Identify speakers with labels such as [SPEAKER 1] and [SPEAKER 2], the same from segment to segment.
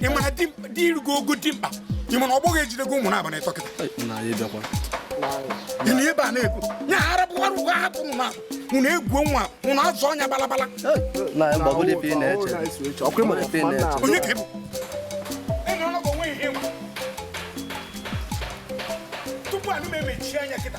[SPEAKER 1] ị mara di irugo ogo dimkpa ị mana ọ bụghị ejidego ụmụ n'abalị ịtọ kịta ị na ebe a na-ekwu nya arapụwara ụgwọ ahapụ ụnụ na ụnụ egbuo onwe ụnụ azụ ọnya balabala onye ka ị bụ tupu anụ m emechie anya kịta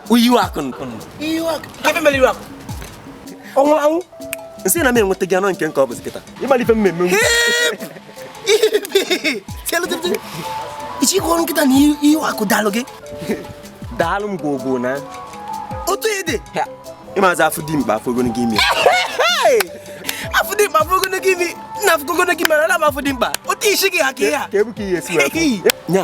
[SPEAKER 1] iwe akụ ebe mere iwe akụ ọ nwụrụ anwụ nsị na m enweta gị anọ nke nke ọ bụzi kịta ịmalite mmemme ichi ọzọ kịta na iwe akụ daalụ gị daalụ m gwogwo na otu ede ịmazi afụ dimkpa afụ ogologo imi afụ dimkpa afụ ogologo imi nna afụ ogologo imi na afụ dimkpa otu isi gị ha ka ihe a ka ebu ka ihe esi wee nya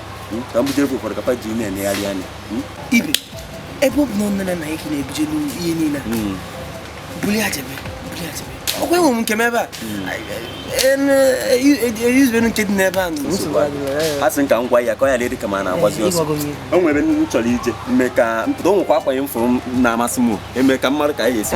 [SPEAKER 1] hmm? ka m bujere gị ụfọdụ kapa ji na-emegharị anya hmm? ibe ebe ọ bụ na nne na nna gị na-ebujelu ihe niile hmm. buli ya jebe buli ya jebe ọkwa enwe m nke m ebe a eyuzibenu nke dị n'ebe a a sị ka m gwa ya ka ọ ya-adị ka m na-agbazi ọsọ o nwere m chọrọ ije mme ka m pụta o nwekwa akwa m fụrụ na-amasị m mee ka m mara ka anyị ga-esi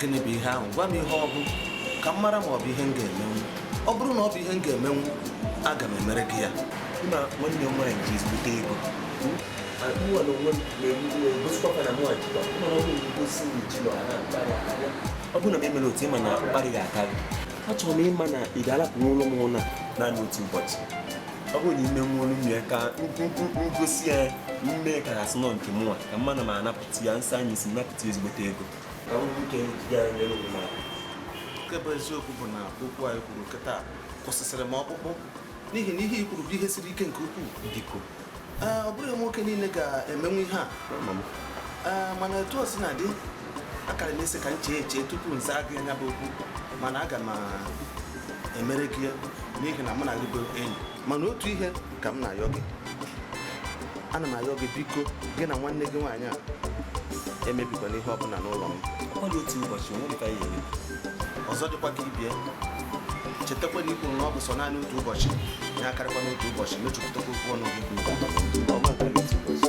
[SPEAKER 1] gịnị bụ ihe ahụ gwa m ihe ọ bụ ka m mara ma ọ bụ ihe m ga-emenwu ọ bụrụ na ọ bụ ihe m ga-emenwu aga m emere gị ya na nwanne nwaanyị ji ezigbote ego mụnwa na onwe m gosikwa na mụnwa jikwa mana ọ bụrụ gosi m ji na ọha ọ bụrụ na m emere otu ịma na mkparị ga-akarị achọrọ m ịma na ị ga-alapụ n'ụlọ m ụla naanị otu ụbọchị ọ bụrụ na i menwuolu m ya ka m gosi ya mme ka a sị na nke mụnwa ka mma na m anapụta ya nsọ anyị si napụta ezigbote ego nke bụ eziokwu bụ na okwu a i kwuru kịta kwụsịsịrị m ọkpụkpụ n'ihi na ihe i kwuru bụ ihe siri ike nke ukwuu biko ee ọ bụghị nwoke niile ga-emenwu ihe a ee mana etu o si na-adị akara m ịsị ka m chee eche tupu m zaa gị nya bụ okwu mana aga m emere gị ya n'ihi na mụ na gị bụ enyi mana otu ihe ka m na-ayọ gị ana m ayọ gị biko gị na nwanne gị nwaanyị a emebikwana ihe ọbụla n'ụlọ m ọ dị otu ụbọchị onwe dịka ya eme ọzọ dịkwa ka ibe ya chetakwa na i kwuru na ọ bụ sọ naanị otu ụbọchị ya akarịkwana otu ụbọchị mezupụtakwa okwu ọnụ gị ọma nke otu ụbọchị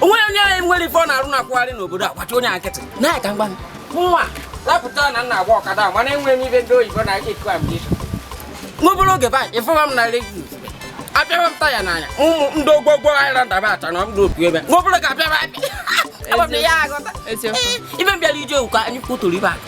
[SPEAKER 1] o nweghị onye anyị nwere ife ọ na-arụ na-akwụgharị n'obodo a gbachi onye a nkịtị na-aka mgba nwa lapụta na m na-agba ọkada a mana enweghị m ife ndị oyibo na-akụ ambition n'obere oge baanyị ịfụwa m na redio apịawa m taya n'anya ụmụ ndị ogwogwo anyị ra ndaba acha na ndị opi ebe n'obere ga-apịawa apịa Eziokwu. ibe m bịara ije ụka anyị kwuturu ibe a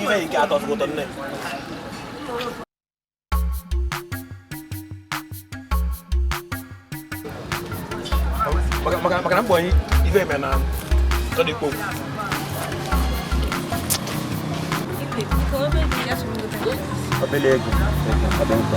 [SPEAKER 1] ife nke atọ ụtọ nne maka na mbọ anyị ife eme na tọdịkpo obele ego ọdị nkọ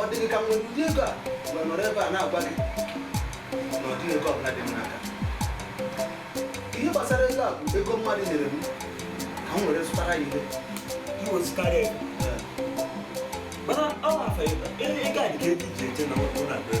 [SPEAKER 1] ọ dịghị ka m nwere ụdị ego a wee nọrọ ebe a na-agwa gị na ọ dịghị ego ọbụla dị m n'aka ihe gbasara ego a bụ ego mmadụ nyere m ka m were zụtara ya ihe iwezụtara ya mana ọ afọ ego a dị ka ego e ji eje na ọkụ na-abịa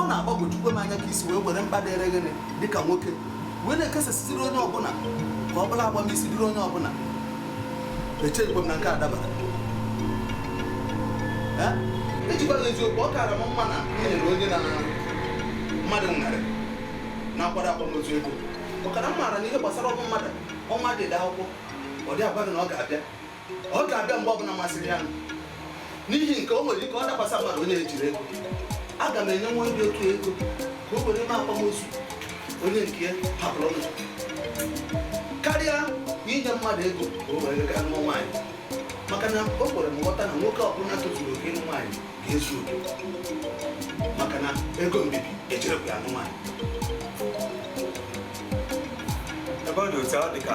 [SPEAKER 1] ọ na-agbagwojukwa m anya ka i si wee were mkpa dịrị gịnị dịka nwoke wee na-ekesasịziri onye ọbụla ka ọ bụ na agbamisi dịrị onye ọbụla echeghịkwa m na nke a dabara ejikwa gị eziokwu ọ kaara m mma na e nyere onye na mmadụ nwụrụ na-akwado akwamozu ego maka na m maara na ihe gbasara ọnwụ mmadụ ọ naghị ede akwụkwọ ọ dịghị agwa gị na ọ ga-abịa ọ ga-abịa mgbe ọbụla masịrị ya n'ihi nke o nwere ike ọ dakwasa mmadụ onye ejighị ego aga m enyenwu onye dị otu a ego ka o were mee akwamozu onye nke ya hapụrụ ụwa karịa na inye mmadụ ego ka o were gaa nụọ nwaanyị maka na o kwere m nghọta na nwoke ọbụla tozuru oke ịnụ nwaanyị ga-ezu oke maka na ego mbibi ejighịkwa ya anụ nwaanyị ebe ọ dị otu ọ dị ka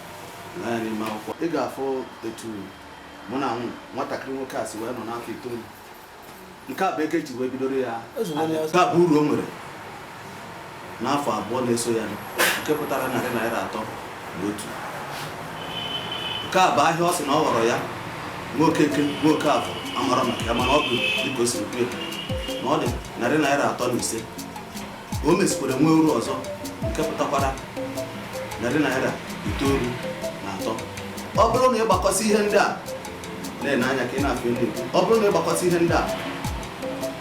[SPEAKER 1] lee anya n'ime akwụkwọ ị ga-afụ etu mụ na nwa nwatakịrị nwoke a si wee nọ n'afọ itoolu nke a bụ nke e ji wee bidoro ya Ozugbo onye nke a bụ uru o nwere n'afọ abụọ na-eso ya nke pụtara narị naira atọ na otu nke a bụ ahịa ọ sị na ọ ghọrọ ya nwoke nke nwoke afọ amara maka ya mana ọ bụ dịka o siri kwuo na ọ dị narị naira atọ na ise o mesikwara nwee uru ọzọ nke pụtakwara narị naira itoolu na atọ ọ bụrụ na ị gbakọsị ihe ndị a na-ene anya ka ị na-afụ ndị ekwu ọ bụrụ na ị gbakọsị ihe ndị a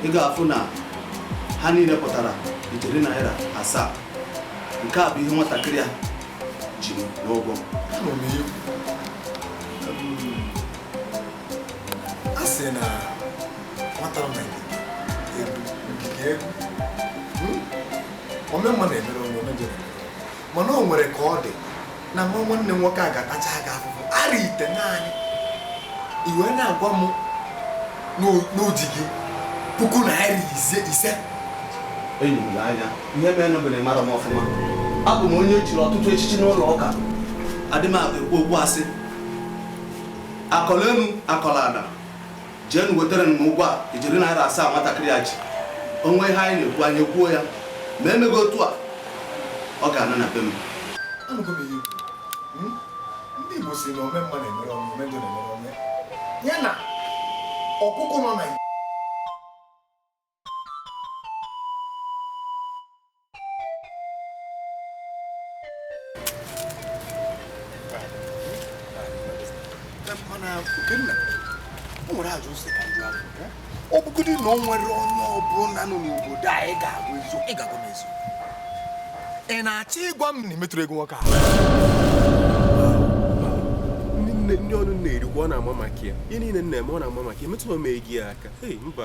[SPEAKER 1] ị ga-afụ na ha niile pụtara ijeri naira asaa nke a bụ ihe nwatakịrị a ji m n'ụgwọ a sị na nwata mere egwu ngige egwu hmm? ome mma na-emere onwe ome njọ mana o nwere ka ọ dị na nwa nwanne nwoke a ga-atacha aga afụfụ arọ itenaanị i wee na-agwa m na o ji gị puku naira ise ise enyi m lee anya ihe mere na be m mara m ọfụma abụ m onye e chiri ọtụtụ echichi n'ụlọ ụka adị m ekwu okwu asị akọla enu akọla ana jeenụ wetara m ụgwọ a ijeri naira asaa nwatakịrị a ji o nwee ihe anyị na-ekwu anyị ekwuo ya ma emeghị otu a ọ ga-ana na be m anụgo m ihe i kwu Hmm? ndị igbo si na ome mma na-emere onwe ome njọ na-emere onwe ya na ọkụkọ nọ na ọ bụgodị na ọ nwere onye ọbụla nọ n'obodo a ị ga-agwa eziokwu ị ga-agwa m eziokwu ị na-achọ ịgwa m na emetụrụ ego nwoke ahụ ndị ụnụ na-erikwa ọ na-aba m aka ihe niile na-eme ọ na-aba m aka emetụrụ m ego ya aka mba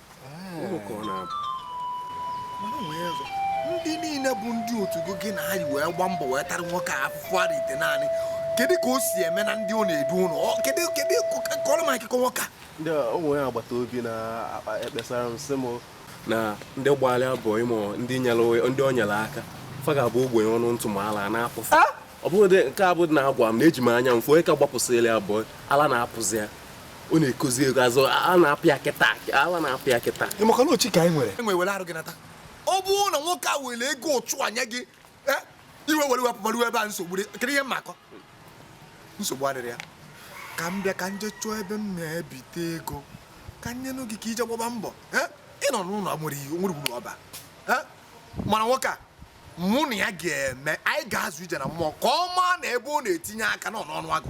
[SPEAKER 1] ndị niile bụ ndị otu gị gị na anyị wee gba mbọ wee tara nwoke a afụfụ arọ itenaanị kedu ka o si eme na ndị ọ na-edu ụlọ kedu kedu kọrọ m akụkọ nwoke a ndị ụmụ ya agbata obi na-akpa ekpesara m sị m na ndị gbalịa bụ ịmụ ndị ndị o nyere aka fa ga-abụ ogbenye ọnụ ntụ ma ala na-apụsị ah! ọ bụghị nke a bụ na-agwa m na eji m anya m fụ onye ka gbapụsịrị abụọ ala na-apụzi ya ọ na-ekozi ego azụ a na-apụ ya kịta ala na-apụ ya kịta ị makwa na ọ chi ka anyị nwere e wee were arụ gị nata ọ bụrụ na nwoke a were ego ụchụ anya gị eh, i wee were wepụ maruo ebe a nsogbu dị kedu ihe mmakọ nsogbu adịrị ya ka m bịa ka m je chụọ ebe m na-ebite ego ka m nyenụ gị ka i je gbaba mbọ eh, ị nọ n'ụlọ nwere ihe nwere gburu ọba eh, mana nwoke a mụ na ya ga-eme anyị ga-azụ ije na mmụọ ka ọ maa na ebe ọ na-etinye aka na ọ n'ọnụ agụ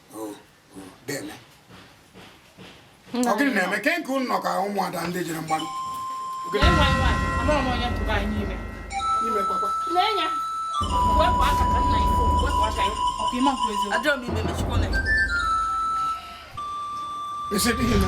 [SPEAKER 1] ọ gịnị na-eme ke nke ụnụ nọ ka ụmụada ndị jere mgbarụ isi dịghị na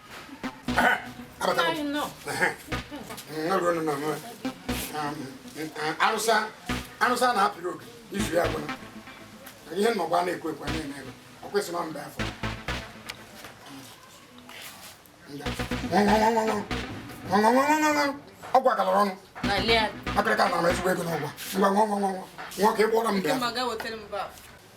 [SPEAKER 1] arụsa arụsa na-apịrị oge izu ya gwụna ihe nnọgba na-ekwe ekwe na-eme ebe ọ kwesịrị ọ mbe afọ ọ gwakọrọ ọnụ akịrịka na-ama ezigbo ego n'ụgwọ ngwa nwa nwa nwa nwa ka ị gwọrọ m bịa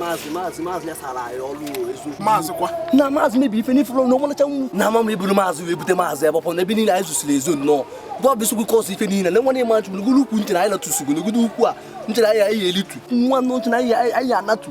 [SPEAKER 1] maazị maazị maazị ya sara anyị ọrụ eziokwu maazị kwa na maazị mebiri ife n'ifuru na ọmalacha nwu na ama m iburu maazị wee bute maazị ebe ọpọ na ebe niile anyị zụsiri ezo nnọọ gwa bụ isogbu kọsụ ife niile na nwanne ma chụrụ gụrụ ukwu nchere anyị natụsugoro godo ukwu a nchere anyị anyị elitu nwa nnọọ nchere anyị anyị anatu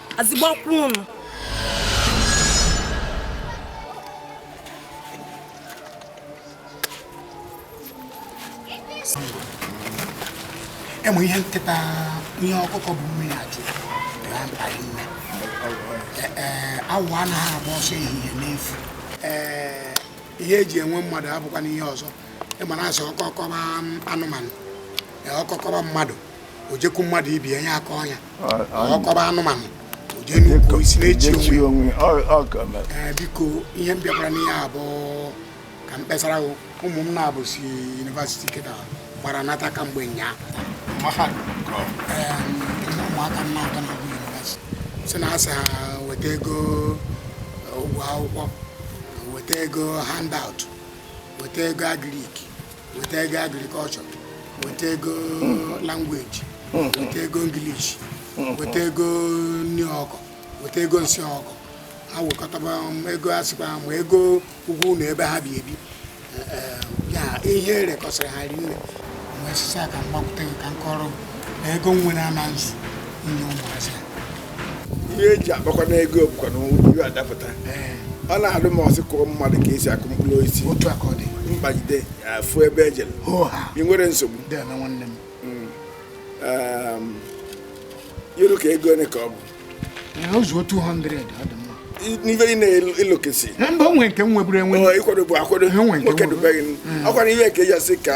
[SPEAKER 1] azịgbakwa ụnụ enwe ihe nkịta ihe ọkụkọ bu mmiri achụ ya mkpa ịma awọ anaghị agba ọsọ ehihie n'efu ee ihe eji enwe mmadụ abụkwanụ ihe ọzọ ịma na asị ọkọ kọba anụmanụ ọkọ kọba mmadụ o jekwu mmadụ ibe ya ya akọọ ya ọ kọba anụmanụ o jee n'ukwu osisi na-echi echi onwe onwe ọ ọ ka mere. Ee, biko ihe m bịakwara n'ihe a bụ ka m kpesara gị ụmụ m naabọ si university kịta gbara nata kamgbe nyaa ụmụaka m na-atọ na-agụ university sị na asị ha weta ego ụgwọ akwụkwọ weta ego handout weta ego agric weta ego agriculture weta ego language weta ego English weta ego nri ọkụkọ weta ego nsị ọkụkọ ha wekọtaba m ego a sịkwa ha ma ego ụgwọ ụlọ ebe ha bi ebi Eh, eh, ya ihe erekọsịrị ha ri nne m wee sịzia ka m gbakwute gị ka m kọrọ gị na ego m nwere ama ezu nye ụmụazị a ihe eji akpakwanụ ego bụkwa na ihe adapụta ọ na-adị m ọ sị kụọ mmadụ ka esi akụ mkpụrụ osisi otu aka ọ dị mkpagide afụ ebe ejere ị nwere nsogbu nwanne m o ru ka ego ole ka ọ bụ ozuo 200 n'ife ị na-elokesi mba o nwe nke m nweburu enwe ị kwadobu akwado nwoke dubeghị ọkwara ihe ka eji asị ka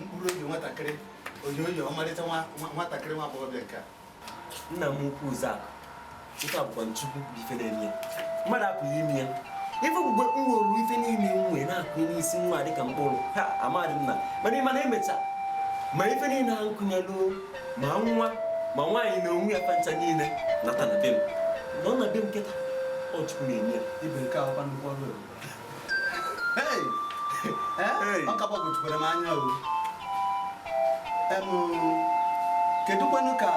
[SPEAKER 1] mkpụrụ obi nwatakịrị onyonyo ọmarịcha nwatakịrị nwa agbọghọbịa nke a nna m ukwu Zak nke a bụkwanụ chukwu bụ ife na-eme ya mmadụ apụghị ime ya ife mgbe m welu ife niile m nwee na-akụ n'isi nwa dịka mkpụrụ ha amadị m na mana ịma na emecha ma ife niile ha nkụnyelụ ma nwa ma nwaanyị na onwe ya fa ncha niile nata na be m na ọ na be m kịta ọ chukwu na-eme ya ibe nke ahụkwa nnukwu ọrụ ọ ka gbagwojukwara m anya o kedụkwanụ ka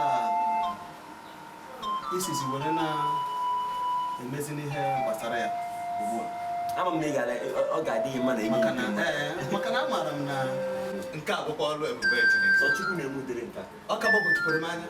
[SPEAKER 1] i sizi were na-emezi n'ihe gbasara ya ugbu a ama m na ọ ga-adị gị mma na enyi maka na amaara m na nke a bụkwa ọrụ ebube Chineke ọ ka gbagwojukwara m anya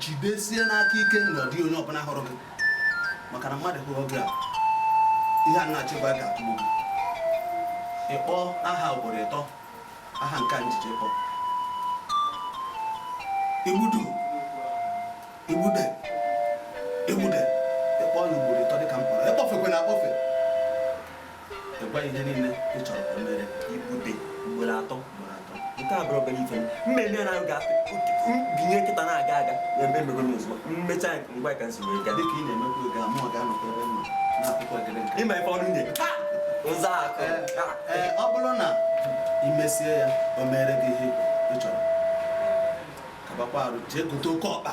[SPEAKER 1] jidesie n'aka ike na ọ dịghị onye ọbụla hụrụ gị maka na mmadụ hụrụ gị a ihe a na-achịkwa ga-atụgbu gị ị kpọọ aha ugboro ịtọ aha nke njije kpọ igbudu igbude igbude ị kpọọ ya ugboro ịtọ dịka m kpọrọ ị kpọfekwena akpọfe Ị gwa ihe niile ị chọrọ ka o mere igbude ugboro atọ ugboro atọ nke a bụrụ obere ife mmemme ya na-aga binye nkịta na-aga aga na ebe emego n'ozugbo mmecha nke ngwa ka nsogbu ega dịka ị na-emekwa oge amụ ọ ga-anọkwa ebe mma na-akwụkwọ gịrị nka ịma ife ọrụ nye nza akụ ee ọ bụrụ na ị mesie ya o mere gị ihe ị chọrọ kabakwa arụ jee gote oke ọkpa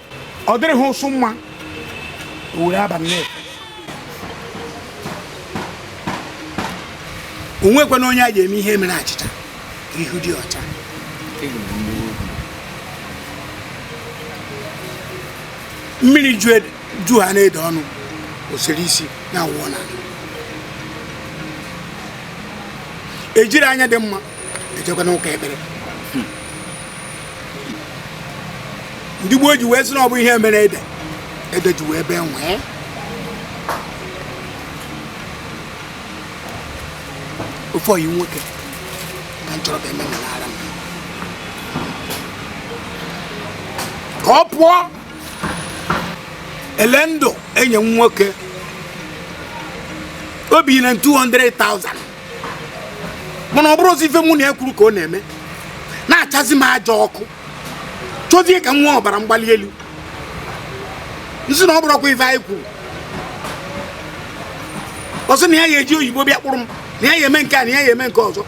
[SPEAKER 1] ọ dịrị ha ụsụ mma o were abalị na-efe o nwekwana onye a ga-eme ihe mere achịcha ihu dị ọcha mmiri ju ha na-ede ọnụ o siri isi na awọ na ejiri anya dị mma ejekwa n'ụka ekpere hmm. ndị gboo ji wee sị na ọ bụ ihe mere ede ede ji wee bee nwii ofe ọyị nwoke ka m chọrọ ka eme n'ara m ka ọ pụọ ele ndụ enye m nwoke obi na 200,000 mana ọ bụrọzi ife mụ na ya kwuru ka ọ na-eme na-achazi m aja ọkụ chọzie ka m nwee ọbara mgbali elu m sị na ọ bụrọkwa ife anyị kwuru ọ sị na ya ya eji oyibo bịa kpụrụ m na ya ya eme nke a na ya ya eme nke ọzọ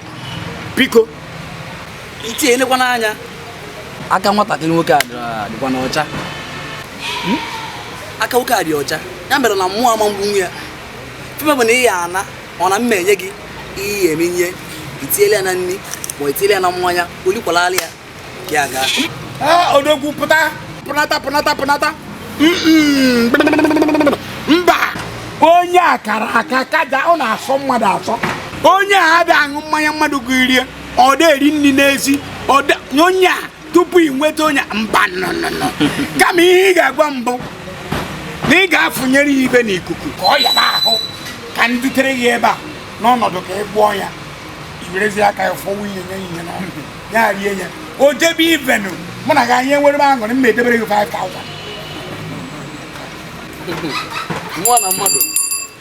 [SPEAKER 1] biko i lekwanụ anya aka nwatakịrị nwoke a dịkwanụ ọcha hmm? aka nwoke a dị ọcha ya mere na mụ ama egbu nwa ya fime bụ na ị ya ana ọ na mma enye gị ihe eme ihe i tiele ya na nri ma ọ i tiele ya na mmanya olikwala ala ya gị aga Ee, odogwu pụta pụnata pụnata pụnata Mm-mm. mba onye a kara aka ka ọ na-asọ mmadụ asọ onye a adịghị aṅụ mmanya mmadụ gụrie ọ dị eri nri n'ezi ọ dị- onye a tupu ị nweta onye mba nnụnụ kama ihe ị ga-agwa m bụ na ị ga-afụnyere ya ive n'ikuku ka ọ yaba ahụ ka m dutere ya ebe a n'ọnọdụ ka ị gwọọ ya i werezie aka ya fọwa ihe nye ihe na ya rie ya o jebe ivenu mụ na gị anyị enwere m aṅụrị m na-edebere gị 5000 nwa na mmadụ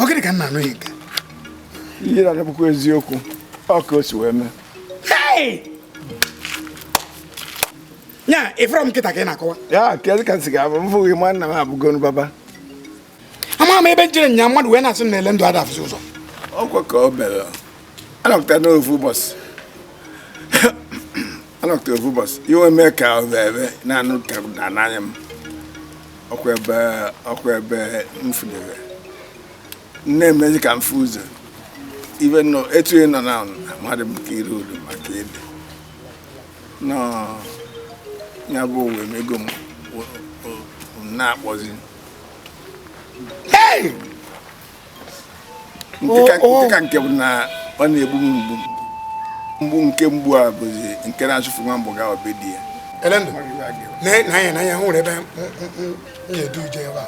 [SPEAKER 1] ọ gịnị ka nna anụghị nke ihe na-adịbụkwa eziokwu ọ ka o si wee mee ya ị fụrọ m kịta ka ị na-akọwa ya kedụ ka m si ga-abụ m fụghị nwanna m abụgonu baba ama m ebe m jere nya mmadụ wee na-asị na elendụ ada afụzi ụzọ ọkwa ka o mere a nọkata n'ofu ụbọchị a nọkata ofu ụbọchị e wee mee ka ọ bụ ebe na-anụ ka na n'anya m ọkwa ebe ọkwa ebe m fụdebe nne emezi ka m fụ ụzọ ibe nọ etu ị nọ na amadị m ka iru uru maka ebe nọ ya bụ o wee mego m na-akpọzi nke ka nke bụ na ọ na-egbu m mgbu mgbu nke mgbu a bụzi nke na-achụfu nwa agbọghọ be di ya elendụ n'anya n'anya hụ nwere ebe na-edu ije ebe a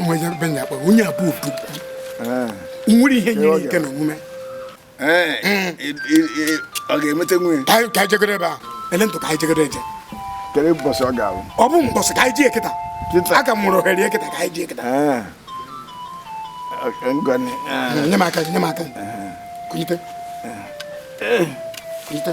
[SPEAKER 1] nwere ebe na-akpọ onye abụọ nwere ihe nyere ike na omume ọ ga-emete nwunye ka anyị jegoro ebe a elendụ ka anyị jegoro eje kedu mbọsị ọ ga-abụ ọ bụ mbọsị ka anyị jee kịta a ka m nwere ohere kịta ka anyị jee kịta nye m aka nye m aka kunyite kunyite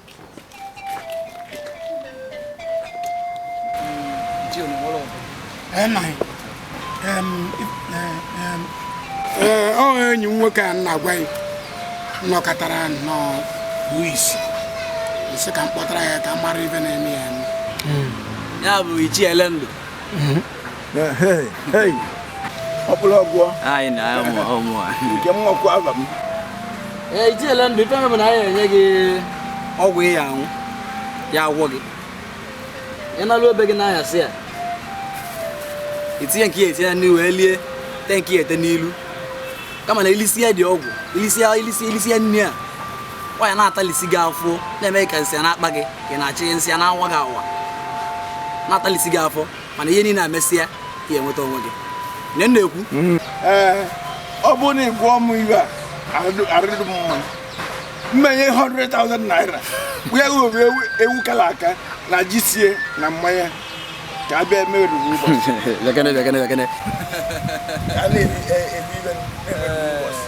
[SPEAKER 1] ọ enyi m nwoke a m na-agwa gị nọkatara nnọọ kpuo isi m sị ka m kpọtara ya ka m mara ive na-eme ya ya bụ ichie elendụ ọbụla ọgwụ nke mmọkwa aba m ichie elendụ ife bụ na anyị enye gị ọgwụ ị ya-aṅụ ya agwọọ gị ị nalụo be gị n'ahịa si ya itinye nke ya etinye n'ihu elie tee nke ị ya-ete n'ilu kama na ilisi ya dị ọgwụ ilisi ya ilisi ilisi ya nri a nwaanyị na-atalisi gị afọ na-eme ka nsị na-akpa gị ka ị na-achị nsị na-awa gị awa na-atalisi gị afọ mana ihe niile emesịa ị ya-enweta onwe gị nye m na-ekwu ee ọ bụrụ na ị gwọọ m ihe a arụ dị m mma m enye 100,000 naira wee gọrọ ewu ewu kala aka na ji sie na mmanya ka a bịa mee oriri ụbọchị bekene bekene bekene a na-ebi ebi ibe na-eme oriri ụbọchị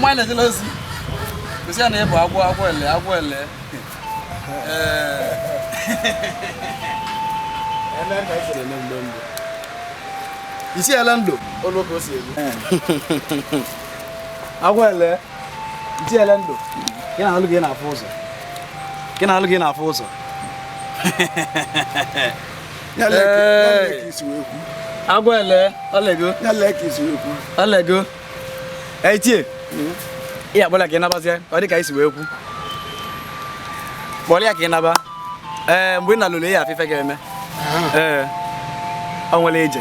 [SPEAKER 1] nwa na-ejela ozi gosi ya na ịbụ agwọ agwọ ele agwọ ele isi ele ndụ olu ka o si egbu agwọ ele tiele ndụ gị na alụ gị na-afụ ụzọ gị na alụ gị na-afụ ụzọ agwa ele ọlego ọlego etie ị akpọla ka ị nabazie ọ dị ka isi wee kwu kpọrọ ya ka ị naba ee mgbe ị na-alụrụ ya afụ ife ga-eme ee ọ nwere ije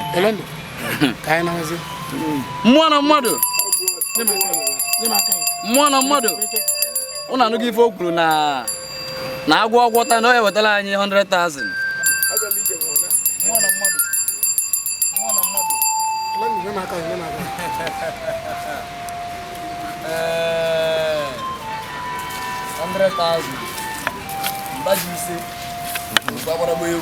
[SPEAKER 1] mmụọ na mmadụ mmụọ na mmadụ ụnụ anụghị ife o kwuru na na agwọ ọgwọta na ọ ya-ewetala anyị 100,000 100,000 mba ji ise gbagwara egwu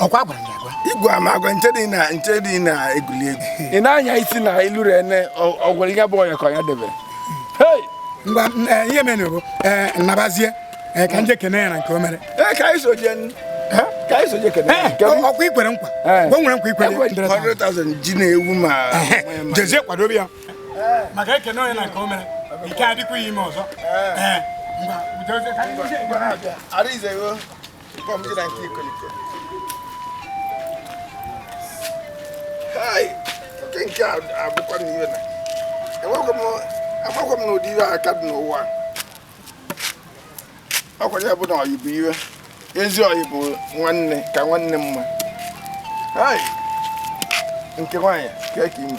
[SPEAKER 1] ọ kwa a gwara ya agwa igwe ama agwa nche dị na nche dị na-egwuli egwu ị na-anya isi na iluru ene ọ gwara ihe bụ ọnya ka ọnya debere ngwa eh, ihe mere bụ eh, nnabazie eh, ka m jee kene ya na nke o mere ka anyị so jee ka anyị so jee kene ọ kwa i kwere nkwa o nwere nkwa i kwere 100,000 ji na ewu ma jezie kwadobe ya maka e kene onye na nke o mere ike adịkwa ime ọzọ Arize yo. amakwa m na ụdị ihe a ka dị n'ụwa ọ kwa ya bụ na ọyị bụ ihe ezi ọyị bụ nwanne ka nwanne mma nke nwaanyị ka eke ime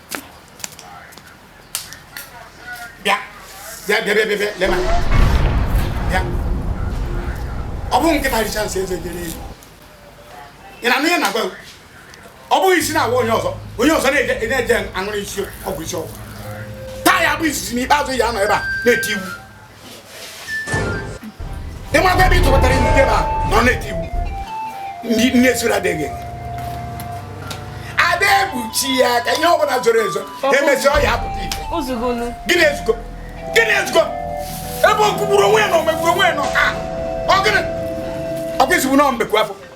[SPEAKER 1] bịa bịa bịa bịa bịa lema bịa ọ bụghị nkịta richaa nsị eze eree ewu ị na-anụ ihe na-agwa ọ bụghị isi na-awa onye ọzọ onye ọzọ na-eje aṅụrụ isi ọgwụ isi ọgwụ taa ya-abụ izizi na ikpeazụ ya nọ ebe a na-eti iwu ịmakwa ebe ị tụbatara ndị ebe a nọ na-eti iwu ndị nne soro adịghị ada egbuchi ya ka ihe ọ bụla zoro ezo emesịa ọ ya-apụta ife gịnị ezugo gịnị ezugo ebe okwugburu onwe ya na omegburu onwe ya nọ ka ọ gịnị ọkwa izugbu na mbekwu afọ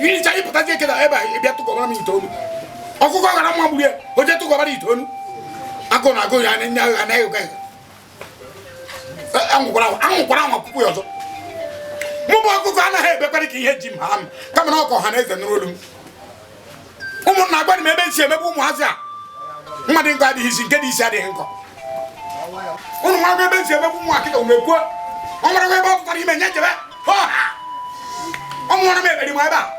[SPEAKER 1] iricha ịpụtazi eke na ebe a bịa tụkọbara m itoolu ọkụkọ gara mma gburu ya o je tụkọbara itoolu agụ na agụ ya anya agha na ịga anwụkwara anwụkwara anwa puku ya ọzọ mụ bụ ọkụkọ anaghị ebekwara ka ihe ji m ha m kama na ọkọ ha na eze nụrụ olu m ụmụnna agwara m ebe e si emebe ụmụazị a mma dị nkọ adịghị isi nke dị isi adịghị nkọ ụnụ gwa m ebe e si emebe ụmụ akịka mgbe kwuo ọ nwere ebe ọ pụtara ime nye jebe ọ mụọrọ m eberi m ebe a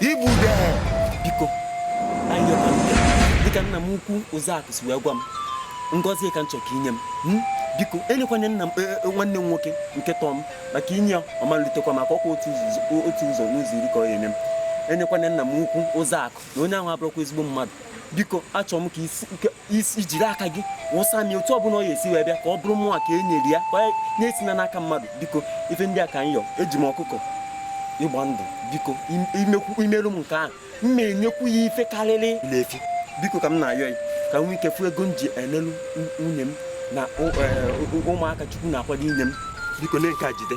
[SPEAKER 1] igbude biko anyị yọta nke dịka nna m ukwu Ozeakụ si wee gwa m ngọzi ka m chọrọ ka i nye m Hmm? biko enyekwana nna m e, e, nwanne m nwoke nke tọọ m maka i nye ya ọ ma-elutekwa m aka ọkwa otu ụzọ- otu ụzọ n'ụzọ iri ka ọ ya-enye m enyekwana nna m ukwu Ozeakụ na onye ahụ abụrọkwa ezigbo mmadụ biko achọrọ m ka i jiri aka gị wụsa m otu ọbụla ọ ya-esi wee bịa ka ọ bụrụ mụnwa ka e nyere ya esina n'aka mmadụ biko ife ndị a ka m eji m ọkụkọ ịgba ndụ biko i merụ m nke ahụ m na-enyekwu ya ife karịrị nne efi biko ka m na-ayọ ya ka m nwee ike fụ ego m ji enelu nwunye m na e, ụmụaka chukwu na-akwado inye m biko na nke a jide